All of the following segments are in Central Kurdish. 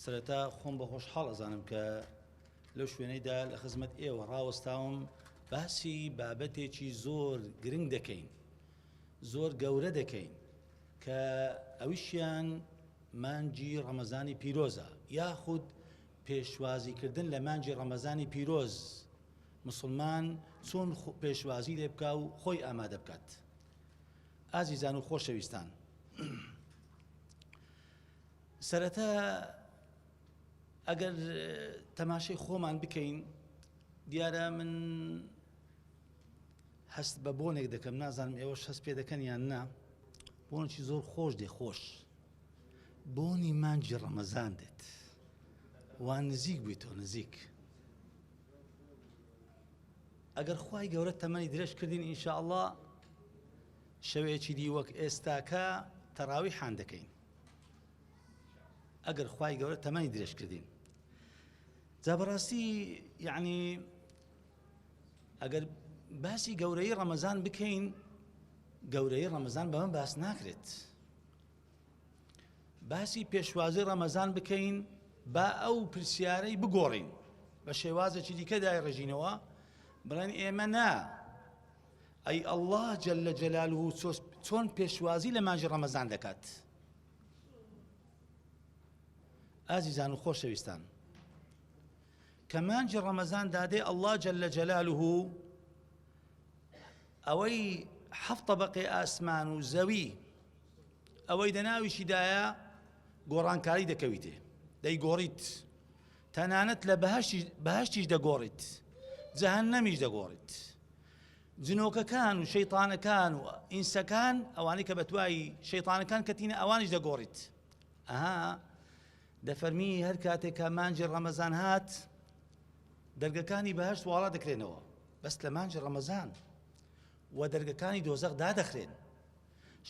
سەرەتا خۆم بە خۆشحاڵ ئەزانم کە لەو شوێنەیدا لە خزمەت ئێوە ڕاوەستاوم باسی بابەتێکی زۆر گرنگ دەکەین زۆر گەورە دەکەین کە ئەویشیان مانجی ڕەمەزانی پیرۆزە یاخود پێشوازیکردن لە مانجی ڕەمەزانی پیرۆز مسلمان چۆن پێشوازی لێ بکە و خۆی ئامادە بکات ئازیزان و خۆشەویستان سەرەتا ئەگەر تەماشەی خۆمان بکەین دیارە من هەست بە بۆنێک دەکەم نازانم ئێوەش هەست پێ دەکەن یان نا بۆنێکی زۆر خۆش دێ خۆش بۆنی مانجی ڕەمەزان دێت وان نزیک بووی تۆ نزیک ئەگەر خی گەورە تەمەنی درێژ کردین ئینشاءله شەوەیەکی دی وەک ئێستاکە تەراوی حان دەکەین ئەگەر خوای گەورە تەمەنی درێژ کردین جا بەڕاستی یعنی ئەگەر باسی گەورەی ڕەمەزان بکەین گەورەی ڕەمەزان بەمە باس ناکرێت باسی پێشوازی ڕەمەزان بکەین با ئەو پرسیارەی بگۆڕین بە شێوازێکی دیکەدای ڕژینەوە بڵێن ئێمە نا ئەی اللە جل جلالە چۆن پێشوازی لە مانجی ڕەمەزان دەکات ئازیزان و خۆشەویستان کە مانجی ڕەمەزان دادێ اللە جل جلالە ئەوەی حەفتە بەقێ ئاسمان و زەوی ئەوەی دەناویشیدایە گۆڕانکاری دەکەویتێ دەیگۆڕیت تەنانەت لە بەهەشتیش بەهەشتیش دەگۆڕیت جەهەنەمیش دەگۆڕیت جنۆکەکان و شەیتانەکان و ئینسەکان ئەوانەی کە بەتوای شەیتانەکان کەتینە ئەوانیش دەگۆڕیت ئەها دەفەرمی هەر کاتێکە مانجی ڕەمەزان هات دەرگەکانی بەهشت واڵا دەکرێنەوە بەس لە مانجی ڕەمەزان و دەرگەکانی دۆزەق دادەخرێن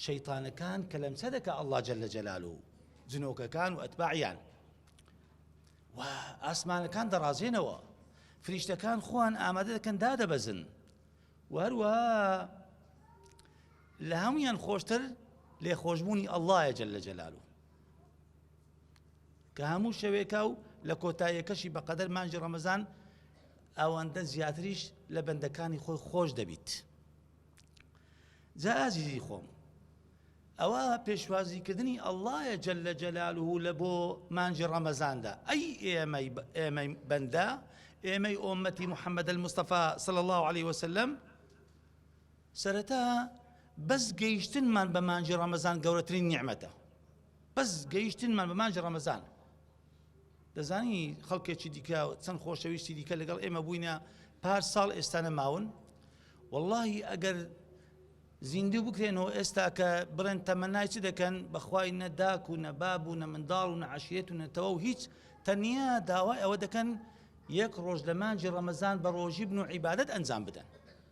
شەیتانەکان کە لەمسە دەکە ئەللا جل لە جەلال و جنۆکەکان و ئەتباعیان و ئاسمانەکان دەڕازێنەوە فریشتەکان خۆیان ئامادە دەکەن دادەبەزن و هەروە لە هەمویان خۆشتر لێ خۆشببوونی ئەللهە جل لە جەلالو کە هەموو شەوێکە و لە کۆتاییەکەشی بە قەدەر مانجی ڕەمەزان ئەوەندە زیاتریش لە بەندەکانی خۆی خۆش دەبیت. جا ئازیزی خۆم ئەوە پێشوازی کردنی ئەڵایە جل لە جەلال و لە بۆ مانجی ڕەمەزاندا ئەی ئێمەی ئێمەی بەندە ئێمەی ئۆمەتی محەممەد المستەفا سڵ الله عليه وسلم سەرەتا بەس گەیشتنمان بە مانجی ڕەمەزان گەورەترین نیعممەتە بەس گەیشتنمان بە مانجی ڕەمەزان دەزانی خەڵکێکی دیکە چەند خۆشەویستی دیکە لەگەڵ ئێمە بووینە پار ساڵ ئێستا نەماون واللهی ئەگەر زیندوو بکرێنەوە ئێستا کە بڵێن تەمەنای چ دەکەن بەخوای نەداک و نەباب و نە منداڵ و نەعشیێت و نەتەوە و هیچ تەنیا داوای ئەوە دەکەن یەک ڕۆژ لەمانجی ڕەمەزان بە ڕۆژی بن و عیبادت ئەنجام بدەن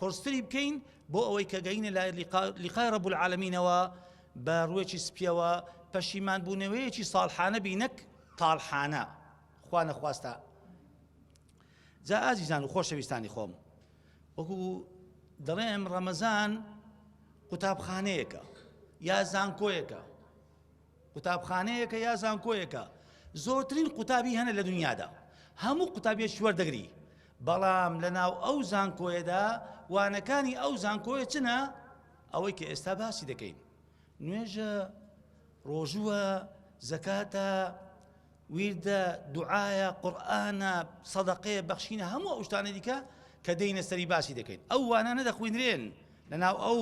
قورستری بکەین بۆ ئەوەی کە گەینە لای لقا لقای رب العالمینەوە بە ڕوێکی سپیەوە پەشیمان بوونەوەیەکی ساڵحانە بی نەک تاڵحانە خوا نەخواستە جا ئازیزان و خۆشەویستانی خۆم وەکو دەڵێم ڕەمەزان قوتابخانەیەەکە یا زانکۆیەکە قوتابخانەیەکە یا زانکۆیەکە زۆرترین قوتابی هەنە لە دنیادا هەموو قوتابیەش وەردەگری بەڵام لە ناو ئەو زانکۆیەدا وانەکانی ئەو زانکۆیە چنە ئەوەی کە ئێستا باسی دەکەین نوێژە ڕۆژووە زەکاتە ویردە دوعاە قورآانە سەدەقەیە بەخشینە هەموو ئەوشتانە دیکە کە دەینە سەری باسی دەکەین ئەو وانانە دەخوێنرێن لە ناو ئەو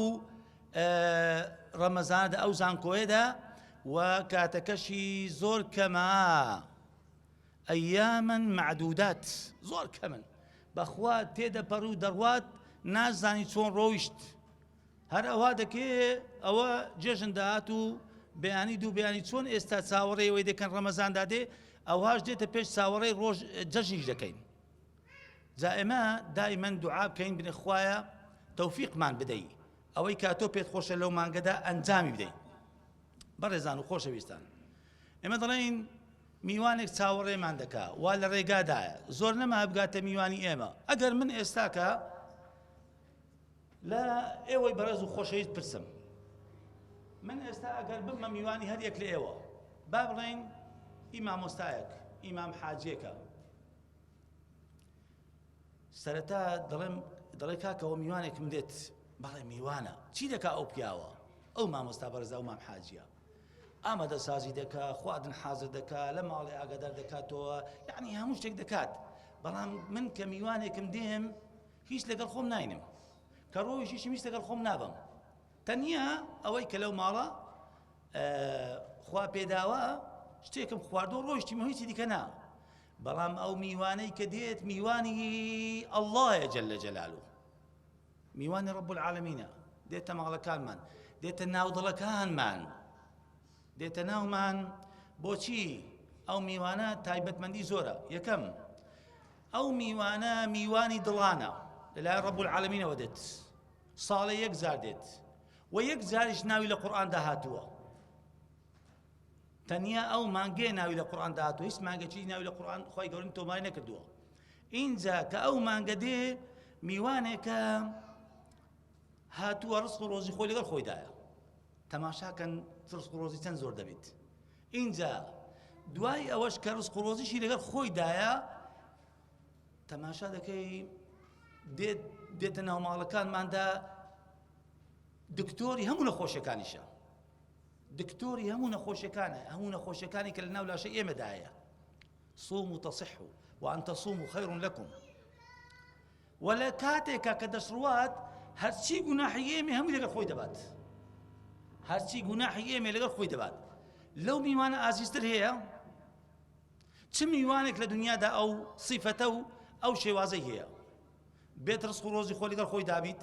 ڕەمەزانەدا ئەو زانکۆیەدا و کاتەکەشی زۆر کەمە ئەیامن معدودات زۆر کەمن بەخوا تێدەپەڕ و دەڕوات نازانی چۆن ڕۆیشت هەر ئەوها دەکێ ئەوە جێژن داات و بەیانی دوو بیانی چۆن ئێستا چاوەڕێەوەی دەکەن ڕەمەزاندا دێ ئەوهاش دێتە پێش چاوەڕێی ڕۆژ جەژنیش دەکەین جا ئێمە دائیمەن دوعا بکەین بنێ خوایە تەوفیقمان بدەی ئەوەی کا تۆ پێت خۆشە لەو مانگەدا ئەنجامی بدەین بەڕێزان و خۆشەویستان ئێمە دەڵێن میوانێک چاوەڕێمان دەکا وا لە ڕێگادایە زۆر نەما بگاتە میوانی ئێمە ئەگەر من ئێستاکە لە ئێوەی بەڕێز و خۆشەویست پرسم من ئێستا ئەگەر بمە میوانی هەر یەک لە ئێوە با بڵێن ئی مامۆستایەک ئیمام حاجێکە سەرەتا دەڵێم دەڵێ کاکەەوە میوانێکم دێت بەڵێ میوانە چی دەکا ئەو پیاوە ئەو مامۆستا بەرزا و مام حاجە ئامادە سازی دەکا خواردن حازر دەکا لە ماڵێ ئاگادار دەکاتەوە یعنی هەموو شتێک دەکات بەڵام من کە میوانێکم دێم هیچ لەگەڵ خۆم ناینم کە ڕۆژیشم هیچ لەگەڵ خۆم نابم تەنیا ئەوەی کە لەو ماڵە خوا پێداوە شتێکم خواردۆ ڕۆژتی مەویی دیکە نا بەڵام ئەو میوانەی کە دێت میوانی اللەیە جل جلالو میوانی رب العالمینە دێتە ماڵەکانمان دێتە ناودڵەکانمان دێتە ناومان بۆچی ئەو میوانە تایبەتمەندی زۆرە یەکەم ئەو میوانە میوانی دڵانە لەلایەن ڕەبول عالمینەوە دێت ساڵێ یەک زار دێت و یەک جاریش ناوی لە قورآاندا هاتووە تەنیا ئەو مانگەیە ناوی لە قورآن داهاتوە هیچ مانگەچی ناوی لە قورآن خی گەورن تۆمای نەکردووە اینجا کە ئەو مانگە دێ میوانێکە هاتووە ڕست و ڕۆژی خۆی لەگەڵ خۆیدایە تەماشاکەن ڕست و ڕۆژی چەند زۆر دەبێت اینجا دوای ئەوەش کە ڕست و ڕۆژیشی لەگەڵ خۆیدایە تەماشا دەکەی دێت دێتە ناوماڵەکانماندا دکتۆری هەموو نەخۆشیەکانیشە دکتۆری هەموو نەخۆشیەکانە هەموو نەخۆشیەکانی کە لە ناو لاشە ئێمەدایە صوم و تصح و وان تصوم و خير لكم ولا کاتێکا کە دەسڕوات هەرچی گوناحی ئێمە هەموو لەگە خۆی دەبات هەرچی گوناحی ئێمە لەگە خۆی دەبات لەو میوانە ئازیزتر هەیە چ میوانێک لە دنیادا ئەو سیفەتە و ئەو شێوازەی هەیە بێت ڕسق و ڕۆزی خۆ لەگەڵ خۆی دابیت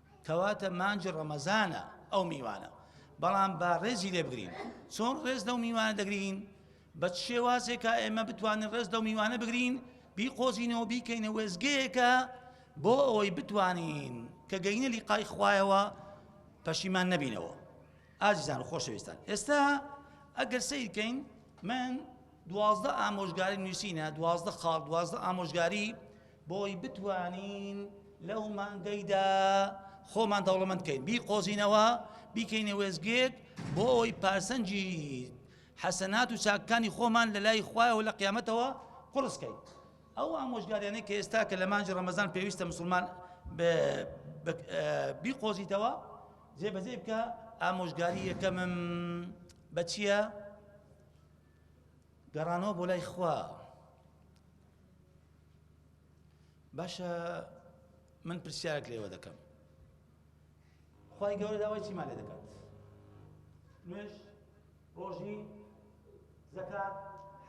کەواتە مانگی ڕەمەزانە ئەو میوانە بەڵام با ڕێزی لێ بگرین چۆن ڕێز لەو میوانە دەگرین بە شێوازێکە ئێمە بتوانین ڕێز لەو میوانە بگرین بیقۆزینەوە بیکەینە وێزگەیەکە بۆ ئەوەی بتوانین کە گەینە لیقای خوایەوە پەشیمان نەبینەوە ئازیزان و خۆشەویستان ئێستا ئەگەر سیرکەین من دوازدە ئامۆژگاری نووسینە دوازدە خاڵ دوازدە ئامۆژگاری بۆی بتوانین لەو مانگەیدا خۆمان دەوڵەمەند کەین بیقۆزینەوە بیکەینە وێزگێک بۆ ئەوەی پارسەنجی حەسەنات و چاکەکانی خۆمان لە لای خوایەوە لە قیامەتەوە قڕسکەین ئەو ئامۆژگاریانەی کە ئێستا کە لە مانجی ڕەمەزان پێویستە مسلمان بیقۆزیتەوە جێبەجێ بکە ئامۆژگاری یەکەمم بە چییە؟ گەڕانەوە بۆ لای خوا باشە من پرسیارێک لێوە دەکەم خی گەورە داوای چیمان لێ دەکات نوێژ ڕۆژی زەکات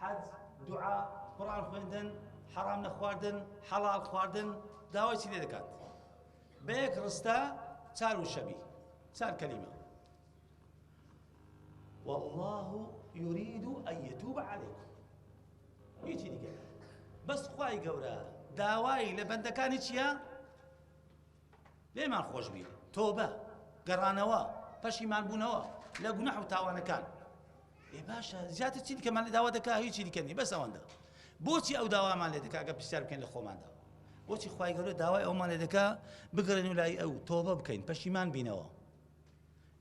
حەج دوعا قڕان خوێندن حەڕام نەخواردن حەڵال خواردن داوای چی لێ دەکات بە یەک ڕستە چار و شەبی چار کەلیمە والله يريد أن يتوب عليكم هیچی دیکە بەس خوای گەورە داوای لە بەندەکانی چییە؟ لێمان خۆش بی تۆبە گەڕانەوە پەشیمان بوونەوە لە گونەح و تاوانەکان ئێ باشە زیاتر چی دیکەمان لە داوا دەکا هیچی دیکەنی بەس ئەوەندە بۆچی ئەو داوامان لێ دەکا گە پرسیار بکەین لە خۆماندا بۆچی خوای گەورە داوای ئەومان لێ دەکا بگەڕێن و لای ئەو تۆبە بکەین پەشیمان بینەوە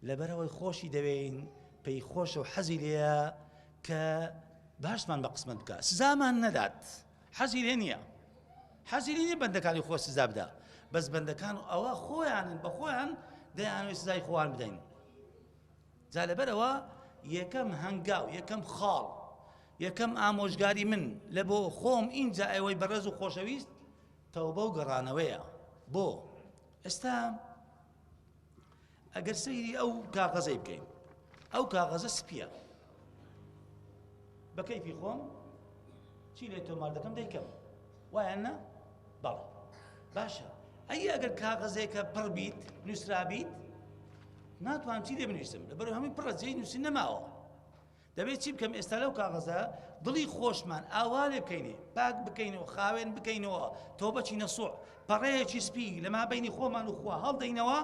لەبەرئەوەی خۆشی دەوێین، پێی خۆشە و حەزی لێیە کە باشمان بە قسمەت بکات، سزامان نەدات، حەزی لێ نییە. حەزی لێ نییە بەندەکانی خۆی سزا بدا، بەس بەندەکان ئەوە خۆیانن بە خۆیان دەیانەوێت سزای خۆیان بدەین. جا لەبەرەوە یەکەم هەنگاو یەکەم خاڵ یەکەم ئامۆژگاری من لە بۆ خۆم ئینجا ئەوەی بەڕێز و خۆشەویست تەوبە و گەڕانەوەیە بۆ ئێستا ئەگەر سەیری ئەو کاغەزەی بکەین ئەو کاغەزە سپیە بە کەیفی خۆم چی لێ تۆمار دەکەم دەیکەم وایە نە بەڵ باشە ئەی ئەگەر کاغەزێکە پڕ بیت نووسرابیت ناتوان چی لێ بنویسم لەبەر هەمووی پڕە جێی نووسین نەماوە دەبێ چی بکەم ئێستا لەو کاغەزە دڵی خۆشمان ئاوا لێ بکەینێ پاک بکەینەوە خاوێن بکەینەوە تۆ بەچی نەسوع پەڕەیەکی سپی لەما بینی خۆمان و خوا هەڵدەینەوە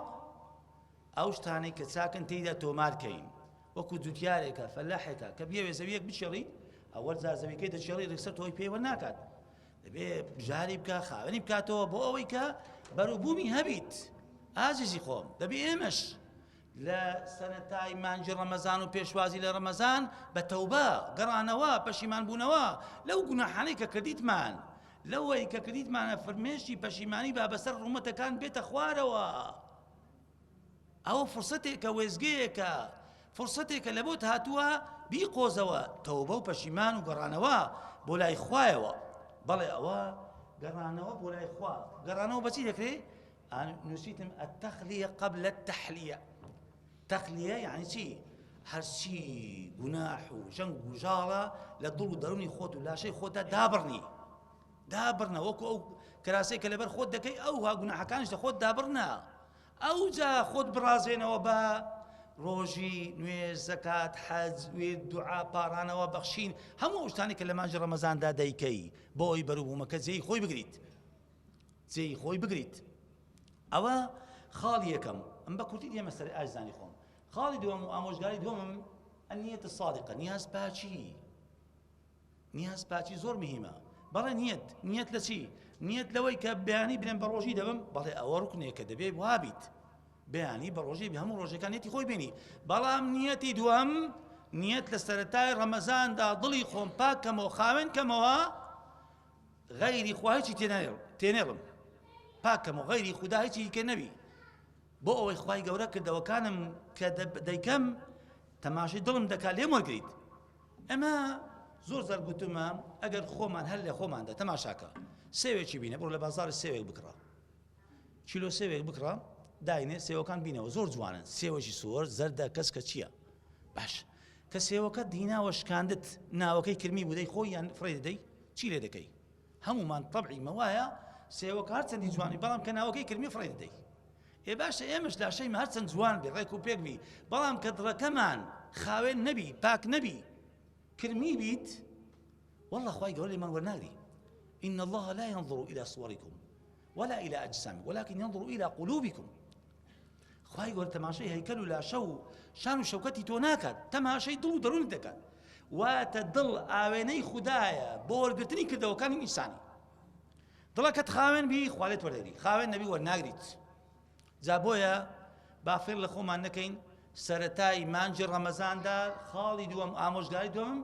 ئەو شتانەی کە چاکن تێیدا تۆمارکەین وەکو جوتیارێکە فەلاحێکە کە بیاوێ زەویەک بچێڵی ئەوەل جا زەویەکەی دەچێڵی ڕێکسە تۆی پێوە ناکات دەبێ بژاری بکە خاوێنی بکاتەوە بۆ ئەوەی کە بەروبوومی هەبیت ئازیزی خۆم دەبێ ئێمەش لە سەرەتای مانگی ڕەمەزان و پێشوازی لە ڕەمەزان بە تەوبە گەڕانەوە پەشیمان بوونەوە لەو گوناحانەی کە کردیتمان لەوەی کە کردیتمانە فرمێشی پەشیمانی با بەسەر ڕوومەتەکان بێتە خوارەوە ئەوە فرسەتێکە وێزگەیەکە فرسەتێکە لە بۆت هاتووە بیقۆزەوە تەوبە و پەشیمان و گەڕانەوە بۆ لای خوایەوە بەڵێ ئەوە گەڕانەوە بۆ لای خوا گەڕانەوە بەچی دەکرێت نووسیتم التخلیە قبل التحلیە تەخلیە یعنی چی هەرچی گوناح و ژەنگ و ژاڵە لە دڵ و دەرونی خۆت و لاشەی خۆتدا دابڕنی دابڕنە وەکو ئەو کراسەی کە لەبەر خۆت دەکەی ئەو ها گوناحەکانش لە خۆت دابڕنە ئەو جا خۆت بڕازێنەوە بە ڕۆژی نوێژ زەکات حەج وێ دوعا پارانەوە بەخشین هەموو شتانی کە لە مانجی ڕەمەزاندا دەیکەی بۆ ئەوی بەروبوومەکە جێی خۆی بگریت جێی خۆی بگریت ئەوە خاڵی یەکەم ئەم بە کورتی دێمە سەر ئاجزانی خۆم خاڵی دووەم و ئامۆژگاری دووەمم ئەنیەتە سادقە نیاز پاچی نیاز پاچی زۆر مهمە بەڵێ نیەت نیەت لە چی نیەت لەوەی کە بەیانی برێن بە ڕۆژی دەبم بەڵێ ئەوە ڕکنێک کە دەبێت وابیت بەیانی بە ڕۆژی بە هەموو ڕۆژەکانێتی خۆی بینی بەڵام نیەتی دووەم نیەت لە سەتای ڕەمەزاندا دڵی خۆم پاکەمەوە خاوێن کەمەوە غەیری خوا هیچی تێنێڵم پاکەم و غەیری خودا هیچی دیکە نەبی بۆ ئەوەی خوای گەورە کردەوەکانم کە دەیکەم تەماشی دڵم دەکات لێم وەگریت ئەمە زۆر زار گوتمە ئەگەر خۆمان هەر لە خۆماندا تەماشاکە سێوێکی بینە بڕۆ لە بازار سێوێک بکڕە کیلۆ سێوێک بکڕە داینێ سێوەکان بینەوە زۆر جوانن سێوەشی سۆر زەردە کەس کە چییە باش کە سێوەکە دیناوە شکاندت ناوەکەی کرمی بودەی خۆی یان فڕێ دەدەی چی لێ دەکەی هەمومان طبعی مەوایە سێوەکە هەر چەندی جوانی بەڵام کە ناوەکەی کرمی فڕێ دەدەی ئێ باشە ئێمەش لاشەی هەر چەند جوان بێ ڕێک و پێک بی بەڵام کە دڕەکەمان خاوێن نەبی پاک نەبی کرمی بیت والله خی گەورەی من وەرناگری إن الله لا ينظر إلى صوركم ولا الى اجسام ولكن ينظر الى قلوبكم خوای گەورە تەماشای هەیکەل و لاشە و شان و شەوکەتی تۆ ناکات تەماشای دڵ و دەروونی دەکات واتە دڵ ئاوێنەی خوددایە بۆ وەرگرتنی کردەوەکانی ئینسانی دڵەکەت خاوێن بی خوالێت وەردەگری خاوێن نەبی وەرناگریت جا بۆیە با فێڵ لە خۆمان نەکەین سەرەتای مانجی ڕەمەزاندا خاڵی دووەم ئامۆژگاری دوم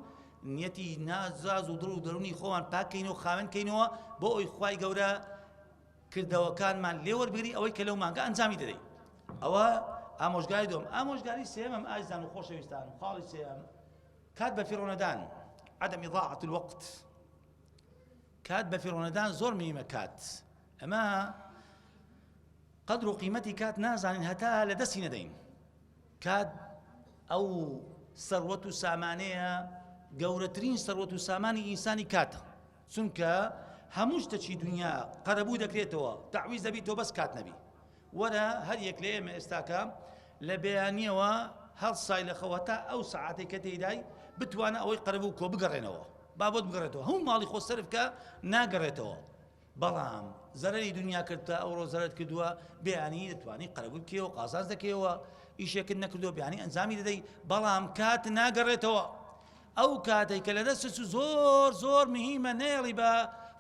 نیەتی نازاز و دڵ و دەرونی خۆمان پاکەین و خاوێن کەینەوە بۆ ئەوی خوای گەورە کردەوەکانمان لێوەربگری ئەوەی کە لەو مانگە ئەنجامی دەدەین ئەوە ئامۆژگاری دوم ئامۆژگاری سێمم ئازان و خۆشەویستان خاڵی سێم کات بە فیڕۆنەدان عدم ضاعة الوقت کات بە فیڕۆنەدان زۆر مهیمە کات ئەمە قدر و قیمەتی کات نازانین هەتا لە دەستی نەدەین کات ئەو سەروەت و سامانەیە گەورەترین سەروەت و سامانی ئینسانی کاتە چونکە هەموو شتەکی دنیا قەرەبوو دەکرێتەوە تاویز دەبی تۆ بەس کات نەبی وەرە هەر یەک لە ئێمە ئێستاکە لە بەیانیەوە هەڵسای لە خەوە تا ئەو سعاتێک کە تێدای بتوانە ئەوەی قەرەبوو کۆ بگەڕێنەوە بابەت بگەڕێتەوە هەموو ماڵی خۆ سەرف کە ناگەڕێتەوە بەڵام زەرری دنیا کردتە ئەو ڕۆزەرت کردووە بیانی دەتوانانی قەرەبوو کێەوە قازانز دەکەیەوە ئیشێکرد نەکردو بیانی ئەنجامی دەدەی بەڵام کات ناگەڕێتەوە ئەو کاتێک کە لە دەست زۆر زۆر مهمە نێڵی بە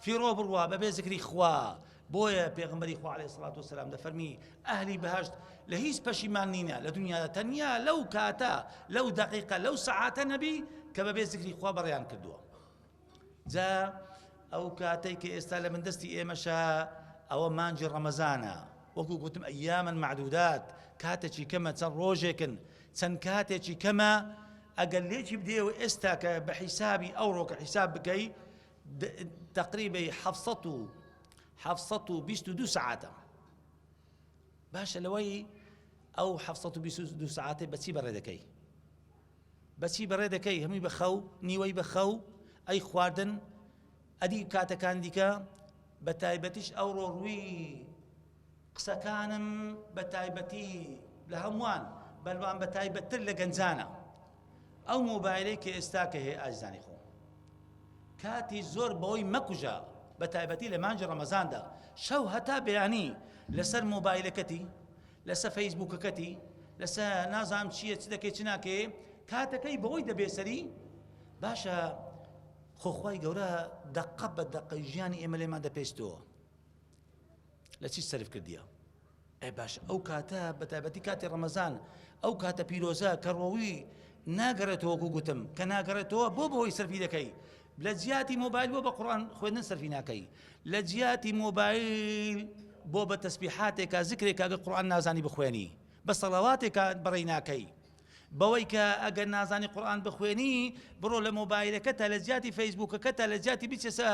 فیڕۆ بڕوا بەبێ زکری خوا بۆیە پێغەمبەری خوا عەلەیهی سڵات و سەلام دەفەرمی ئەهلی بەهەشت لە هیچ پەشیمان نینە لە دنیادا تەنیا لەو کاتە لەو دەقیقە لەو سەعاتە نەبی کە بەبێ زیکری خوا بەڕێیان کردووە جا ئەو کاتەی کە ئێستا لە من دەستی ئێمەشە ئەوە مانجی ڕەمەزانە وەکو گوتم ئەیامن معدودات کاتێکی کەمە چەند ڕۆژێکن چەند کاتێکی کەمە ئەگەر لێکی بدێ و ئێستا کە بە حیسابی ئەو ڕۆکە حیساب بکەی تقریبەی حەڤ سەد و حەڤ سەد و بیست و دوو سەعاتە باشە لەوەی ئەو حەڤ سەد و بیست و دوو سەعاتێ بەچی بەڕێ دەکەی بەچی بەڕێ دەکەی هەمووی بە خەو نیوەی بە خەو ئەی خواردن ئەدی کاتەکان دیکە بە تایبەتیش ئەوڕۆ ڕووی قسەکانم بە تایبەتی لە هەمووان بەلوان بە تایبەتتر لە گەنجانە ئەو مۆبایلەی کە ئێستا کە هەیە ئازیزانی خۆم کاتی زۆر بەوەی مەکوژە بە تایبەتی لە مانجی ڕەمەزاندا شەو هەتا بەیانی لەسەر مۆبایلەکەتی لەسەر فەیسبوکەکەتی لەسەر نازام چییە چ دەکەی چ ناکەی کاتەکەی بەوەی دەبێسەری باشە خۆخوای گەورە دەقە بە دەقە ژیانی ئێمە لێمان دەپێستەوە لە چی سەرف کردیە؟ ئەی باشە ئەو کاتە بە تایبەتی کاتی ڕەمەزان ئەو کاتە پیرۆزە کە ڕۆوی ناگەڕێتەوە وەکو گوتم کە ناگەڕێتەوە بۆ بەوەی سەرفی دەکەی لە جیاتی مۆبایل بۆ بە قڕان خوێندن سەرفی ناکەی لە جیاتی مۆبایل بۆ بە تەسبیحاتێکا زکرێکا گە قڕان نازانی بخوێنی بە سەڵاواتێکا بەڕێی ناکەی بەوەی کە ئەگەر نازانی قورئان بخوێنی بڕۆ لە مۆبایلەکەتا لە جیاتی فەیسبوکەکەتا لە جیاتی بچەسە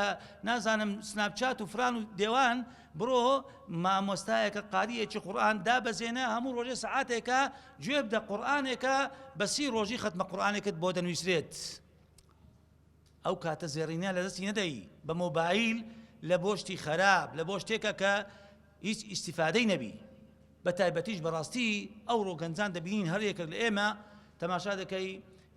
نازانم سناپچات و فران و دێوان بڕۆ مامۆستایەکە قاریەکی قورئان دابەزێنە هەموو ڕۆژێ سعاتێکە گوێ بدە قورئانێکە بەسی ڕۆژی خەتمە قورئانێکت بۆ دەنووسرێت. ئەو کاتە زێڕینە لەدەستی نەدەی بە مۆبایل لە بۆ شتی خەراپ لە بۆ شتێکە کە هیچ ئیسیفادەی نەبی بە تایبەتیش بەڕاستی ئەو ڕۆگەنجان دەبینین هەر یەکێک لە ئێمە تەماشا دەکەی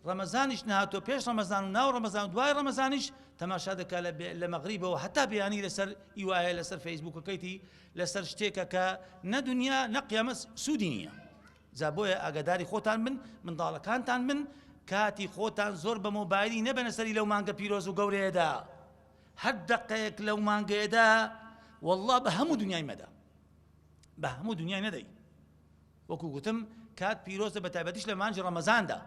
ڕەمەزانیش نهاتۆ پێش ڕەمەزان و ناو ڕەمەزان و دوای ڕەمەزانیش تەماشا دەکە لە مەغریبەوە هەتا بیانی لەسەر ئیواە لەسەر فەیسبوکەکەیتی لەسەر شتێکە کە نە دنیا نە قیامەت سوودی نییە جا بۆیە ئاگاداری خۆتان بن منداڵەکانتان بن کاتی خۆتان زۆر بە مۆبایلی نەبەنە سەری لەو مانگە پیرۆز و گەورەیەدا هەر دەقەیەک لەو مانگەیەدا والله بە هەموو دنیای مەدە بە هەموو دنیای نەدەی وەکو گوتم کات پیرۆزە بە تایبەتیش لە مانجی ڕەمەزاندا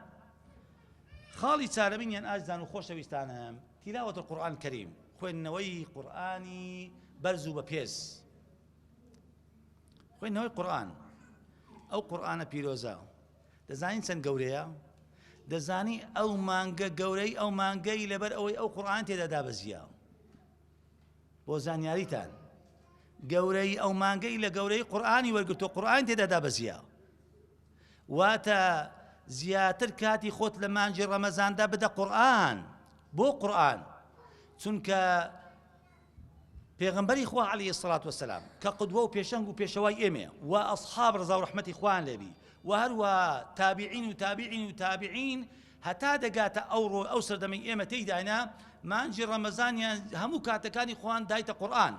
خاڵی چارەبین یان ئازدان و خۆشەویستانم تیلاوەت قورآن کەریم خوێندنەوەی قورآانی بەرز و بە پێز خوێندنەوەی قورئان، ئەو قورئانە پیرۆزە دەزانین چەند گەورەیە؟ دەزانی ئەو مانگە گەورەی ئەو مانگەی لەبەر ئەوەی ئەو قورآان تێدا دابەزیە بۆ زانیاریتان گەورەی ئەو مانگەی لە گەورەی قورآانی وەرگتو قورآان تێدا دابەزیە واتە زیاتر کاتی خۆت لە مانجی ڕەمەزاندا بدە قورآن بۆ قورآن چونکە پێغەمبەری خوا علیە سڵات وسلام کە قدوە و پێشەنگ و پێشەوای ئێمێ و ئەصحاب ڕزا و ڕحمەتی خوان لێبی و هەروە تابیعین و تابیعین و تابیعین هەتا دەگاتە ئەو ڕۆ ئەو سەردەمی ئێمە تێیداینا مانجی ڕەمەزانیان هەموو کاتەکانی خۆیان دایتە قورآن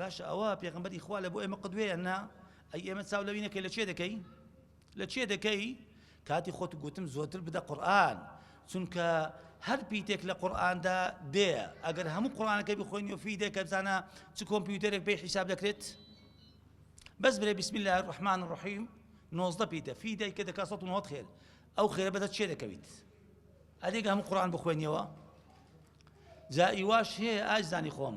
باشە ئەوە پێغمبەری خوا لە بۆ ئێمە قدوێیان نا ئەی ئێمە چاو لەوینەکەی لە چێ دەکەین لە چێ دەکەی کاتی خۆت گوتم زۆرتر بدە قورآن چونکە هەر پیتێک لە قورآاندا دێ ئەگەر هەموو قڕانەکە بخۆین و فی دێکە بزانە چ کۆمپیوتەرێک پێی حیساب دەکرێت بەس برێ بسم الله الرحمن الرحیم نۆزدە پیتە فی دایکە دەکات سە نهۆت خێر ئەو خێرە بەدە چێ دەکەویت ئەدێک هەموو قڕان بخوێنیەوە جا ئیواش هەیە ئاجزانی خۆم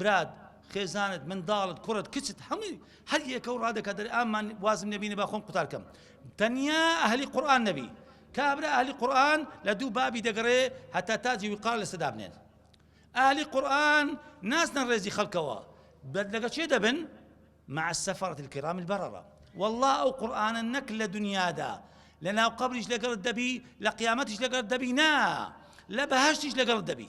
برات، خێزانت، منداڵت، کوڕت، کچت، هەمووی هەر یەکەو ڕادەکات دەرێ ئا من وازم لێ بینێ با خۆم قوتار کەم. تەنیا ئەهلی قورئان نەبی. کابرا ئەهلی قورئان لە دوو بابی دەگەڕێ هەتا تاجی وقار لەسەر دابنێن. ئەهلی قورئان ناسنە ڕێزی خەڵکەوە. لەگە چێ دەبن؟ مع السفرة الكرام البررة والله ئەو قورئانە نەک لە دنیادا لە ناو قبریش لەگەڵت دەبی لە قیامەتیش لەگەڵت دەبی نا لە بەهشتیش لەگەڵت دەبی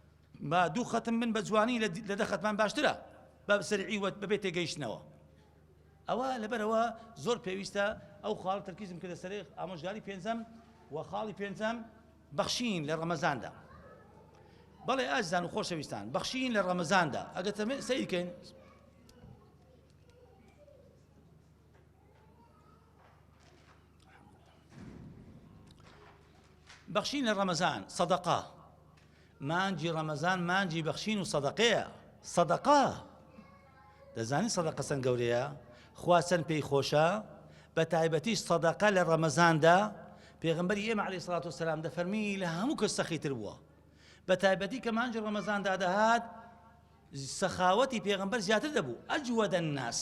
با دوو خەتم بن بە جوانی لە دە خەتمان باشترە بە سەرعی وەت بەبێ تێگەیشتنەوە ئەوە لەبەرەوە زۆر پێویستە ئەو خاڵ تەرکیزم کردە سەر ئامۆژگاری پێنجەم و خاڵی پێنجەم بەخشین لە ڕەمەزاندا بەڵێ ئازان و خۆشەویستان بەخشین لە ڕەمەزاندا ئەگەر سیرکەین بەخشین لە ڕەمەزان سەدەقا مانجی ڕەمەزان مانجی بەخشین و سەدەقەیە سەدەقا دەزانی سەدەقە سەن گەورەیە خوا چەند پێی خۆشە بە تایبەتیش سەدەقە لە ڕەمەزاندا پێغمبەری ئێمە علی سڵات و سلام دەفەرمی لە هەموو کەس سەخیتر بووە بە تایبەتی کە مانجی ڕەمەزاندا دەهات سەخاوەتی پێغمبەر زیاتر دەبوو ئەجووە دەناس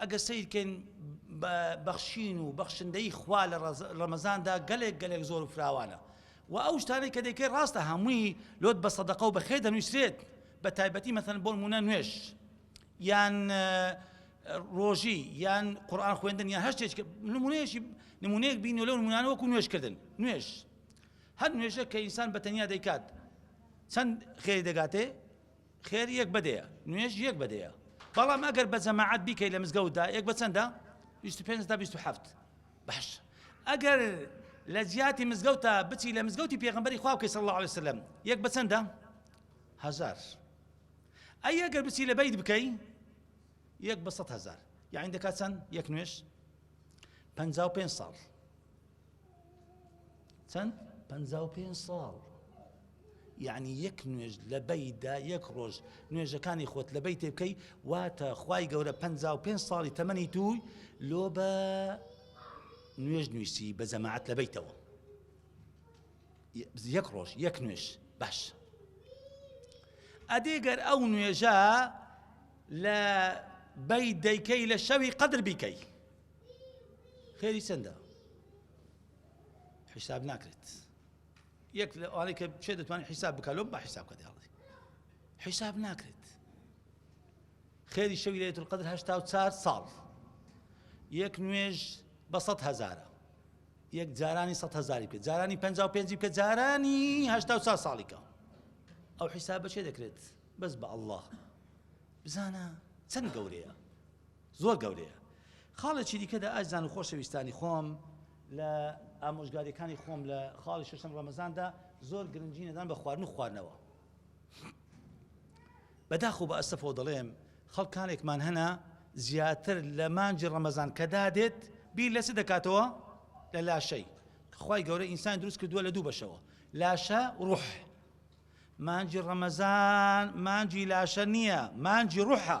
ئەگەر سەیر کەین بە بەخشین و بەخشندەیی خوا لە ڕەمەزاندا گەلێک گەلێک زۆر و فراوانە و ئەو شتانەی کە دەیکەی ڕاستە هەمووی لۆت بە سەدەقە و بەخێر دەنووسرێت بە تایبەتی مەسەن بۆ نمونە نوێژ یان ڕۆژی یان قورآن خوێندن یان هەشتێک نمونەیەشی نمونەیەک بین لەو نمونانە وەکو نوێژکردن نوێژ هەر نوێژە کە ئینسان بە تەنیا دەیکات چەند خێری دەگاتێ خێر یەک بە دەیە نوێژ یەک بە دەیە بەڵام ئەگەر بە جەماعات بیکەی لە مزگەوتدا یەک بە چەندە 25 تا 27 باش ئەگەر لە جیاتی مزگەوتە بچی لە مزگەوتی پێغمبەری خوا بکەی صلی الله عليه وسلم یەک بە چەندە هزار ئەی ئەگەر بچی لە بیت بکەی یەک بە سەد هزار یعنی دەکات چەند یەک نوێش 55 ساڵ چەند؟ پەنجا و پێنج ساڵ یعنی یەک نوێژ لە بەیدا یەک ڕۆژ نوێژەکانی خۆت لە بەی تێبکەی واتە خی گەورە پ پێ ساڵی تەمەنی تووی لۆ بە نوێژ نووسی بە جەماعات لە بیتەوە یەک ڕۆژ یەک نوێش باش ئەدێگەر ئەو نوێژە لە بەی دەیکەی لە شەوی قەدر بیکەی خێری چەندە حیساب ناکرێت یەک لە ئەوانەی کە چێ دەتوانێت حیساب بکە لۆم با حیساب کە دەڵێ حیساب ناکرێت خێری شەوی لەێت قدر هەشتا و چار ساڵ یەک نوێژ بە سە هزارە یەک جارانی سە هزاری بکە جارانی پ پێنج بکە جارانی هشتا و چار ساڵیکە ئەو حیساب بەچێ دەکرێت بەس بە ئەله بزانە چەند گەورەیە زۆر گەورەیە. خاڵێکی دیکەدا ئازیزان و خۆشەویستانی خۆم لە ئامۆژگاریەکانی خۆم لە خاڵی شەشەم ڕەمەزاندا زۆر گرنگی نەدان بە خواردن و خواردنەوە. بەداخەوە بە ئەسەفەوە دەڵێم خەڵکانێکمان هەنا زیاتر لە مانجی ڕەمەزان کە دادێت بیر لە چ دەکاتەوە لە لاشەی خی گەورە ئینسان دروست کردووە لە دوو بەشەوە لاشە ڕوح مانجی ڕەمەزان مانجی لاشە نییە مانجی ڕوحە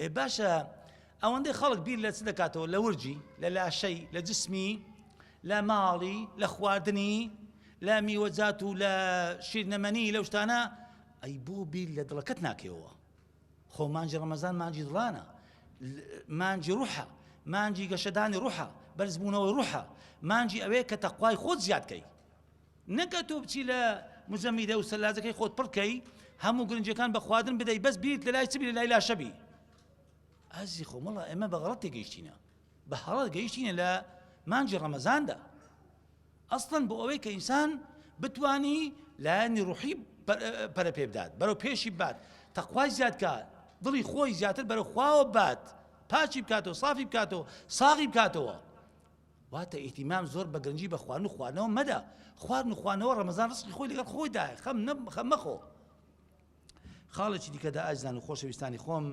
ئێ باشە ئەوەندەی خەڵک بیر لە چ دەکاتەوە لە ورجی لە لاشەی لە جسمی لە ماڵی لە خواردنی لە میوەجات و لە شیرنەمەنی لەو شتانە ئەی بۆ بیر لە دڵەکەت ناکەوە خۆ مانجی ڕەمەزان مانجی دڵانە مانجی ڕوحە مانجی گەشەدانی ڕوحە بەرزبوونەوەی ڕوحە مانجی ئەوەیە کە تەخوای خۆت زیادکەی نەک ئەتۆ بچی لە مزەمیدە و سەلاجەکەی خۆت پڕکەی هەموو گرنجەکان بە خواردن بدەی بەس بیرت لە لای چبی لە لای لاشەبی ئازی خۆ مەڵە ئێمە بە غڵەت تێگەیشتینە بە هەڵە گەیشتینە لە مانجی ڕەمەزاندا ئەسڵەن بۆ ئەوەی کە ئینسان بتانی لایەنی ڕوحی پەرە پێ بدات بەرەو پێشی بات تەخوای زیادکە دڵی خۆی زیاتر بەرەو خواوە بات پاچی بکاتەوە سافی بکاتەوە ساغی بکاتەوە واتە ئیهتیمام زۆر بە گرنگی بە خواردن و خواردنەوە مەدە، خواردن و خواردنەوە ڕەمەزان ڕزقی خۆی لەگەڵ خۆیدایە، خەم مەخۆ. خاڵێکی دیکەدا ئازیزان و خۆشەویستانی خۆم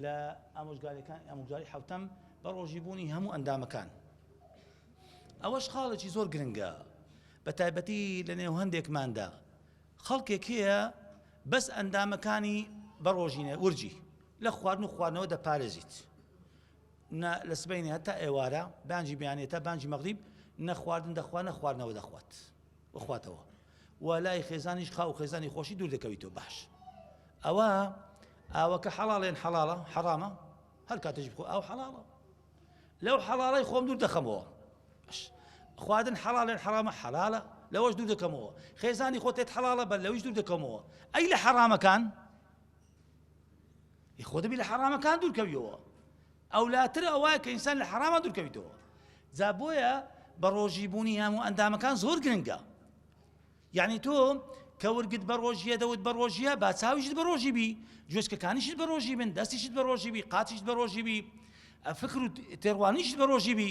لە ئامۆژگاریەکان ئەمجاری حوتەم بە ڕۆژی بوونی هەموو ئەندامەکان ئەوەش خاڵێکی زۆر گرنگە بە تایبەتی لە نێو هەندێکماندا خەڵکێک هەیە بەس ئەندامەکانی بە ڕۆژینە ورجی لە خواردن و خواردنەوە دەپارێزیت نە لە سبەینێ هەتا ئێوارە، بانگی بەیانیە تا بانگی مەغریب، نە خواردن دەخوا نە خواردنەوە دەخوات و خواتەوە و لای خێزانیش خاو و خێزانی خۆشی دوور دەکەویتەوە باش ئەوە ئاوەکە حەڵاڵێن حەڵاڵە حەڕامە هەر کاتەژی بخۆ ئاو حەڵاڵە لەو حەڵاڵی خۆم دوور دەخەمەوە خواردن حەڵاڵێن حەڵامە حەڵالە لەوەش دوور دەکەمەوە خێزانی خۆتێت حەڵاڵە بەر لەویش دوور دەکەمەوە ئەی لە حەڕامەکان ی خۆ دەبی لە حەڕامەکان دوورکەویەوە ئەولاتر ئەوە کە ئینسان لە حەڕامە دوورکەویتەوە جا بۆیە بە ڕۆژی بوونی هەموو ئەندامەکان زۆر گرنگە یعنی تۆ کە ورگت بە ڕۆژیە دەوت بە ڕۆژیە با چاویشت بە ڕۆژی بی جوێشکەکانیشت بە ڕۆژی بن دەستیشت بە ڕۆژی بی قاتیشت بە ڕۆژی بی فکر و تێڕوانیشت بە ڕۆژی بی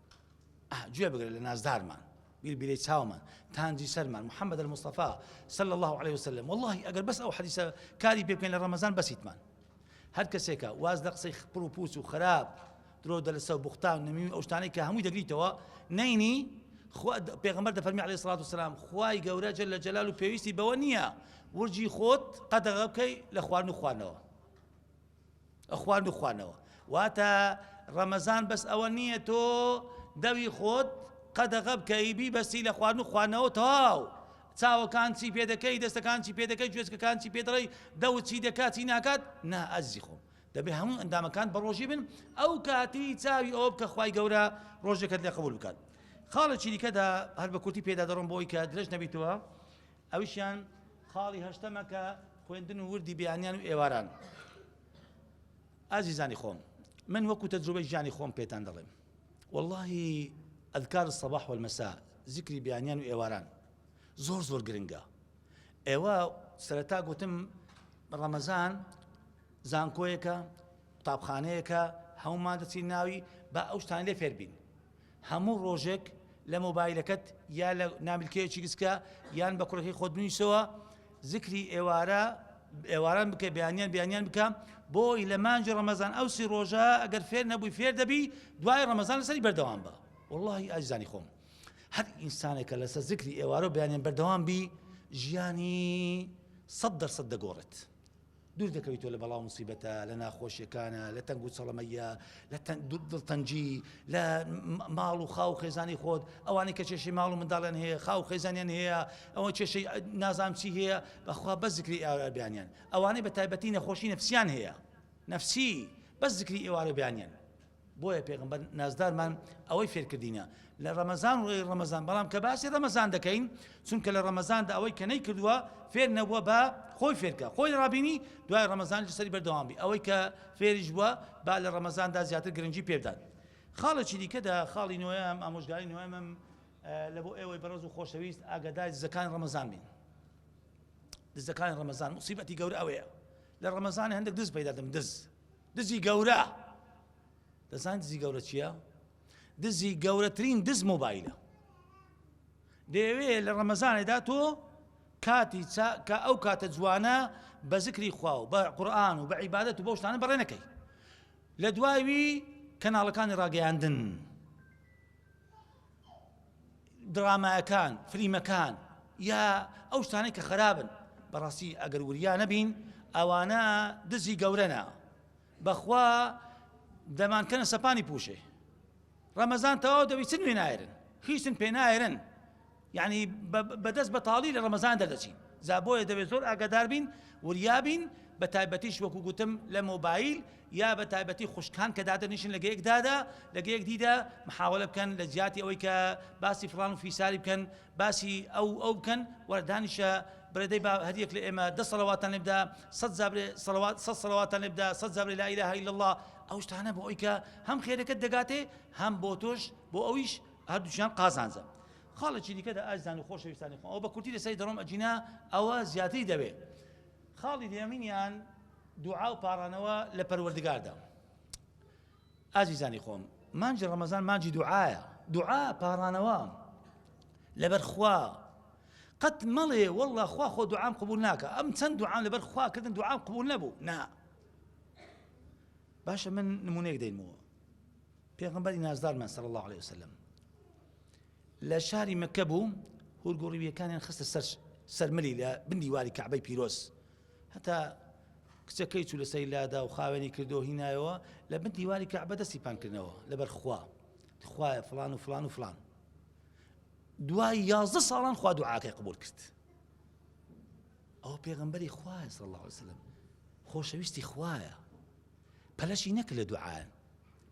گوێ بگرە لە نازدارمان بیر بیرەی چاومان تانجی سەرمان محەممەد المستەفا سەل الله عليه وسلم واللهی ئەگەر بەس ئەو حەدیسە کاری پێ بکەین لە ڕەمەزان بەسیتمان هەر کەسێکە واز لە قسەی خپڕ و پووس و خراپ درۆ دەلسە و بختان نەمیوی ئەو شتانەی کە هەمووی دەگریتەوە نینی پێغمبەر دەفەرمی عليه سڵات وسلام خوای گەورە جل لە جلال و پێویستی بەوە نییە ورجی خۆت قەدەغە بکەی لە خوارد و خوانەوە ئەخوان و خوانەوە واتە ڕەمەزان بەس ئەوە نییە تۆ دەوی خۆت قەدەغە بکەی بیبەستی لە خوان و خوانەوە تەواو چاوەکان چی پێ دەکەی دەستەکان چی پێ دەکەی گوێزکەکان چی پێ دەڵی دەوت چی دەکات چی ناکات نا ئەزی خۆم دەبێ هەموو ئەندامەکان بە ڕۆژی بن ئەو کاتی چاوی ئەو بکە خی گەورە ڕۆژێکت لە قبول بکات خاڵێکی دیکەدا هەر بە کورتی پێدا دەڕم بۆی کە درێژ نەبیتەوە ئەویشیان خاڵی هەشتەمە کە خوێندن و وردی بەیانیان و ئێواران ئازیزانی خۆم من وەکو تەجروبەی ژیانی خۆم پێتان دەڵێم واللهی ئەذکار الصباح والمساء ذکری بیانیان و ئێواران زۆر زۆر گرنگە ئێوە سەرەتا گوتم ڕەمەزان زانکۆیەکە قوتابخانەیەکە هەمومان دەچین ناوی با ئەو شتان لێ فێربین هەموو ڕۆژێک لە مۆبایلەکەت یا لە نامیلکەیەکی گسکە یان بە کوڕەکەی خۆت بنویسەوە زکری ئێوارە ئێواران بکە بیانیان بیانیان بکە بۆی لە مانجی ڕەمەزان ئەو سی ڕۆژە ئەگەر فێر نەبووی فێر دەبی دوای ڕەمەزان لەسەری بەردەوام بە واللهی ئازانی خۆم هەر ئینسانێکە لەسە زکری ئێوارە بیانیان بەردەوام بی ژیانی سەد دەرسەد دەگۆڕێت دوور دەکەویتەوە لە بەڵا و موسیبەتە، لە ناخۆشیەکانە، لە تەنگ و چڵەمەییە، لە دڵتەنگی، لە ماڵ و خاو و خێزانی خۆت، ئەوانەی کە کێشەی ماڵ و منداڵیان هەیە، خاو و خێزانیان هەیە، ئەوە کێشەی نازانم چی هەیە، بەخوا بەس زکری ئێوارە بیانیان، ئەوانەی بە تایبەتی نەخۆشی نەفسیان هەیە، نەفسی، بەس زکری ئێوارە بیانیان، بۆیە پێغەمبەر نازدارمان ئەوەی فێرکردینە لە ڕەمەزان ڕۆی ڕەمەزان بەڵام کە باسی ڕەمەزان دەکەین چونکە لە ڕەمەزاندا ئەوەی کە نەی کردووە فێر نەبووە بە خۆی فێرکە خۆی ڕابینی دوای ڕەمەزان سەری بەردەوام بی ئەوەی کە فێریش بووە با لە ڕەمەزاندا زیاتر گرنگی پێدات خاڵێکی دیکەدا خاڵی نوۆیان ئامۆژگاری نوێمم لە بۆ ئێوەی بەڕز و خۆشەویست ئاگادای دزەکان ڕەمەزان بین دزەکان ڕەمەزان مصیبەتی گەورە ئەوەیە لە ڕەمەزان هەندێک دز پیدادەم دز دزی گەورە دەزان دزی گەورە چییە؟ دزی گەورەترین دز مۆبایلە دەیەوێ لە ڕەمەزانێدا تۆ کاتی کە ئەو کاتە جوانە بە زکری خوا و بە قورآان و بە عیباەت و بەشتانە بەڕێ نەکەی لە دواوی کەناڵەکانی ڕاگەیاندن درامایەکان فلیمەکان یا ئەو شتانەی کە خرابن بەڕاستی ئەگەر وریا نەبین ئەوانە دزی گەورەنا بەخوا دەمانکەنە سەپانی پوشێ ڕەمەزان تەواو دەبی چ نوێ نایرن هیچن پێ نایرن یعنی بەدەست بەتاڵی لە ڕەمەزان دەردەچین زابۆیە دەبێت زۆر ئاگادار بین وریابین بە تایبەتیش وەکو گوتم لە مۆبایل یا بە تایبەتی خوشکان کە دادەنیشن لە گەیەک دادا لە گەیەک دیدا محاولە بکەن لە جیاتی ئەوەی کە باسی فلان و فیساری بکەن باسی ئەو ئەو بکەن وەردانیشە برێدەی با هەریەک لە ئێمە دە سەڵەواتان لێبدا سە زابرێ سەڵەوات سە سەڵەواتان لێبدا سە زابرێ لا ئیلاهە الا الله ئەو شتانە بۆ ئەوی کە هەم خێرەکەت دەگاتێ هەم بۆ تۆش بۆ ئەویش هەردووچیان قازانجە خاڵێکی دیکە دە ئازدان و خۆشەویستانی خۆ ئەو بە کورتی لەسەری دەڕۆم ئەجینا ئەوە زیاتری دەوێ خاڵی دێمینیان دوعا و پاڕانەوە لە پەروەردگاردا. ئازیزانی خۆم، مانجی ڕەمەزان مانجی دوعایە، دوعا پاڕانەوە لەبەر خوا، قەت مەڵێ واللە خوا خۆ دوعام قبول ناکە، ئەم چەند دوعام لەبەر خوا کردن دوعام قبول نەبوو، نا. باشە من نمونەیەک دەینمەوە. پێغمبەری نازدارمان صلی الله عليه وسلم لە شاری مەکە بوو هورگوڕیویەکانیان خستە سەر سەرملی لە بندی واری کەعبەی پیرۆز هەتا کچەکەی چوو لەسەری لادا و خاوێنی کردەوە هینایەوە لە بن دیواری کەعبە دەستی پان کردنەوە لەبەر خوا خوایە فلان و فلان و فلان دوای یازدە ساڵان خوا دوعاکەی قبول کرد ئەو پێغمبەری خوایە صلی الله عليه وسلم خۆشەویستی خوایە پەلەشی نەکرد لە دوعاە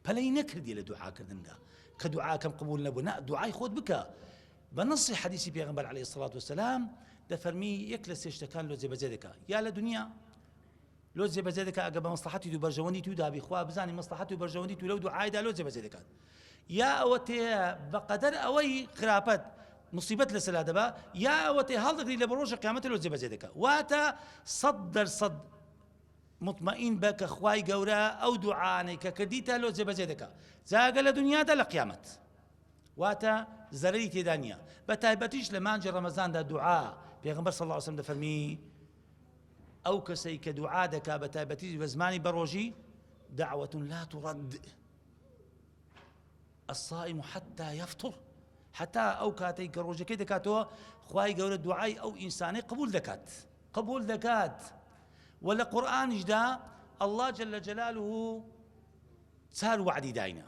پەلەی نەکردی لە دوعاکردندا کە دوعاکەم قبول نەبوو نە دوعای خۆت بکە بە نەصی حەدیسی پێغەمبەر علی صلات وسلام دەفەرمی یەک لە سێ شتەکان لۆ جێبەجێ دەکا یا لە دنیا لۆ جێبەجێ دەکا ئەگە بە مەسلحەتی دوو بەرژەوەندی تو دابی خوا بزانانی مەسلحەت و بەرژەوەندی تو لەو دوو عایدا لۆ جێبەجێ دەکات یا ئەوە تێ بەقەدەر ئەوەی خراپەت مصیبەت لە سەلا دەبا یا ئەوە تێ هەڵدەگری لە بەڕۆژە قیامەتە لۆ جێبەجێ دەکا واتە سەد دەرسەد مطمئین بە کە خوای گەورە ئەو دوعاانەی کە کردیتە لۆ جێبەجێ دەکا جاگە لە دنیادا لە قیامەت واتە زەرەری تێدا نییە بە تایبەتیش لە مانجی ڕەمەزاندا دوعا پێغمبەر صلی الله علیه وسلم دەفەرمی ئەو کەسەی کە دوعا دەکا بە تایبەتی بە زمانی بەڕۆژی دعوة لا ترد الصائم حتى يفطر حتى ئەو کاتێک کە ڕۆژەکەی دەکاتەوە خی گەورە دوعای ئەو ئینسانەی قبول دەکات قبول دەکات و لە قورآانیشدا الله جل جلاله چار وعدی داینە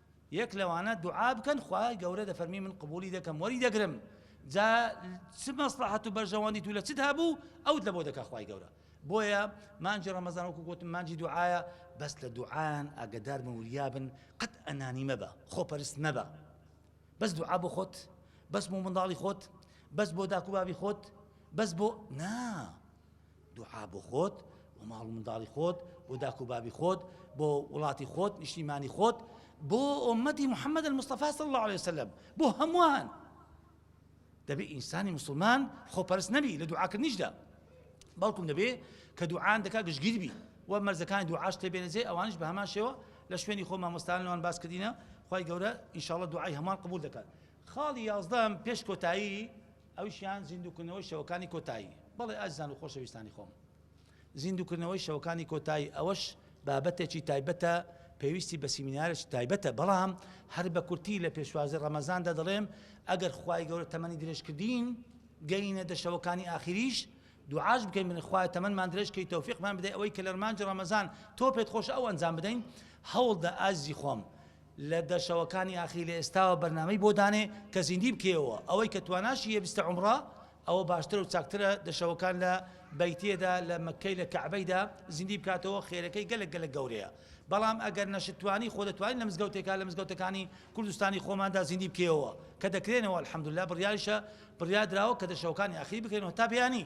یەک لەوانە دوعا بکەن خوای گەورە دەفەرمی من قبولی دەکەم وەری دەگرم جا چ مەسلحەت و بەرژەوەندی تو لە چت هەبوو ئەوت لە بۆ دەکە خوای گەورە بۆیە مانجی ڕەمەزان وەکو گوتم مانجی دوعاە بەس لە دوعاان ئاگدار مەوریابن قەت ئەنانی مەبە خۆپەرست مەبە بەس دوعا بۆ خۆت بەس بۆ منداڵی خۆت بەس بۆ داکوبابی خۆت بەس بۆ نا دوعا بۆ خۆت و ماڵ و منداڵی خۆت بۆ داک و بابی خۆت بۆ وڵاتی خۆت نیشتیمانی خۆت بۆ ئۆمەتی محەممەد المستەفا صلی الله عليه وسلم بۆ هەمووان دەبێ ئینسانی مسلمان خۆپەرست نەبی لە دوعاکردنیشدا بەڵکم دەبێ کە دوعاان دەکا گشتگیر بی و مەرزەکانی دوعاش تێبێنەجێ ئەوانش بە هەمان شێوە لە شوێنی خۆ مامۆستانەوان باس کردینە خی گەورە ئیشاڵە دوعای هەمان قبول دەکات خاڵی یازدەم پێش کۆتایی ئەویشیان زیندووکردنەوەی شەوەکانی کۆتایی. بەڵێ ئازیزان و خۆشەویستانی خۆم، زیندووکردنەوەی شەوەکانی کۆتایی ئەوەش بابەتێکی تایبەتە، پێویستی بە سیمینارێکی تایبەتە، بەڵام هەر بە کورتی لە پێشوازی ڕەمەزاندا دەڵێم ئەگەر خوای گەورە تەمەنی درێژکردین گەینە دە شەوەکانی ئاخیریش دوعاش بکەین بڵێن خوایە تەمەنمان درێژ کەی تەوفیقمان بدەی ئەوەی کە لە مانگی ڕەمەزان تۆ پێت خۆشە ئەو ئەنجام بدەین هەوڵدە ئازیزی خۆم لە دە شەوەکانی ئاخیر لە ئێستاوە بەرنامەی بۆ دانێ کە زیندی بکەیەوە ئەوەی کە تواناشی هەیە بستە عومڕە ئەوە باشترە و چاکترە دە شەوەکان لە بەیتێدا لە مەککەی لە کەعبەیدا زیندی بکاتەوە خێرەکەی گەلەک گەلەک گەورەیە بەڵام ئەگەر نەشتوانی خۆ دەتوانین لە مزگەوتێکا لە مزگەوتەکانی کوردستانی خۆماندا زیندی بکەیەوە کە دەکرێنەوە الحمدللە بڕیاریشە بڕیادراوە کە دە شەوەکانی ئاخیر بکرێنەوە تا بەیانی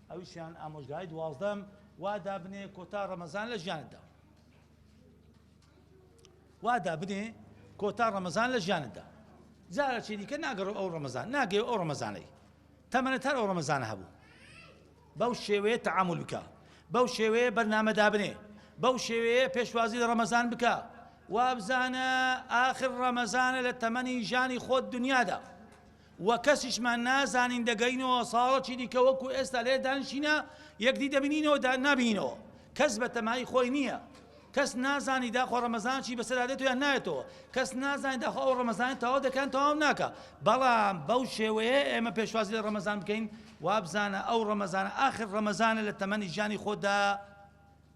ئەویشیان ئامۆژگاری دوازدەم وا دابنێ کۆتا ڕەمەزان لە ژیانتدا وا دابنێ کۆتا ڕەمەزان لە ژیانتدا جارە چی دیکە ناگەڕۆ ئەو ڕەمەزان ناگەێ ئەو ڕەمەزانەی تەمەنە تەر ئەو ڕەمەزانە هەبوو بەو شێوەیە تەعامل بکە بەو شێوەیە بەرنامە دابنێ بەو شێوەیە پێشوازی لە ڕەمەزان بکە وابزانە ئاخر ڕەمەزانە لە تەمەنی ژانی خۆت دنیادا و کەسیشمان نازانین دەگەینەوە ساڵەکی دیکە وەکو ئێستا لێرە دانیشینە یەکدی دەبینینەوە دا نابینینەوە کەس بە تەمای خۆی نییە کەس نازانی داخۆ ڕەمەزانشی بەسەرا دێتەوە یان نایەتەوە کەس نازانی داخۆ ئەو ڕەمەزانانی تەواو دەکەن تەواو ناکە بەڵام بەو شێوەیە ئێمە پێشوازی لە ڕەمەزان بکەین وابزانە ئەو ڕەمەزانە ئاخر ڕەمەزانە لە تەمەنی ژیانی خۆتدا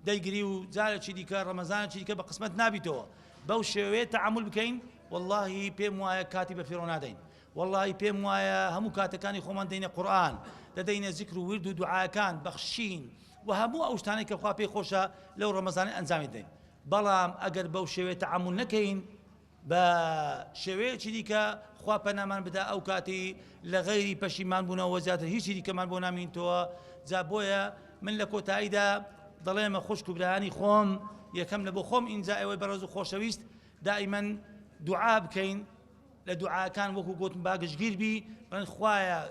دەیگری و جارەکی دیکە ڕەمەزانەکی دیکە بە قسمەت نابیتەوە بەو شێوەیە تەعامول بکەین واللهی پێم وایە کاتی بە فیڕۆ نادەین واللهی پێم وایە هەموو کاتەکانی خۆمان دەینە قورآن دەدەینە زیکر و ورد و دوعاکان بەخشین و هەموو ئەو شتانەی کە خوا پێی خۆشە لەو ڕەمەزانانی ئەنجامی دەین بەڵام ئەگەر بەو شێوێت تەعامول نەکەین بە شێوەیەکی دیکە خوا پەنامان بدا ئەو کاتی لە غەیری پەشیمان بوونەوە زیاتر هیچی دیکەمان بۆ نامینتەوە جا بۆیە من لە کۆتاییدا دەڵێمە خوشک و برایانی خۆم یەکەم لە بۆ خۆم ئینجا ئەوەی بەڕێز و خۆشەویست دائیمەن دوعا بکەین لە دوعاکان وەکو گوتم باگشگیر بی بڵێن خوایە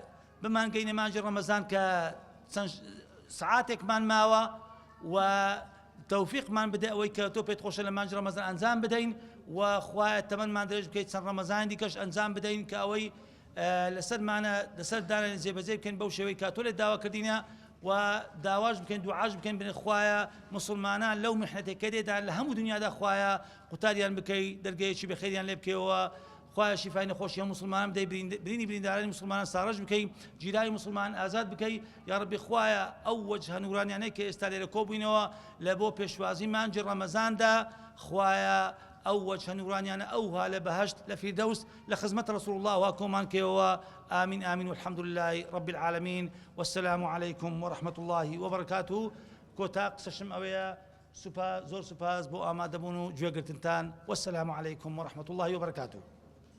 بمانگەینە مانجی ڕەمەزان کە چەند سعاتێکمان ماوە و تۆفیقمان بدە ئەوەی کە تۆ پێت خۆشە لە مانگی ڕەمەزان ئەنجام بدەین و خوایە تەمەنمان درێژ بکەیت چەند ڕەمەزانی دیکەش ئەنجام بدەین کە ئەوەی لەسەرمانە لەسەر دانێن جێبەجێ بکەین بەو شێوەی کە تۆ لێ داوا کردینە و داواش بکەین دوعاش بکەین بنێ خوایە مسلمانان لەو محنەتێکەدێدا لە هەموو دنیادا خوایە قوتاریان بکەی دەرگەیەکی بەخێریان لێ بکەوە خوایە شیفای نەخۆشی هەموو مسلمانان بدەی برینی بریندارانی مسلمانان ساڕژ بکەی جیرانی مسلمانان ئازاد بکەی یا ربی خوایە ئەو وەج هەنورانیانەی کە ئێستا لێرە کۆبووینەوە لە بۆ پێشوازی مانجی ڕەمەزاندا خوایە ئەو وەج هەنورانیانە ئەوها لە بەهشت لە فیردەوس لە خزمەت رسول الله وا کۆمان کەوەوە آمین آمین والحمد لله رب العالمین والسلام عليكم ورحمة الله وبركاته کۆتا قسەشم ئەوەیە سوپا زۆر سوپاس بۆ ئامادەبوون و گوێگرتنتان وسلام علیکم ورحمە اللە وبرکاته.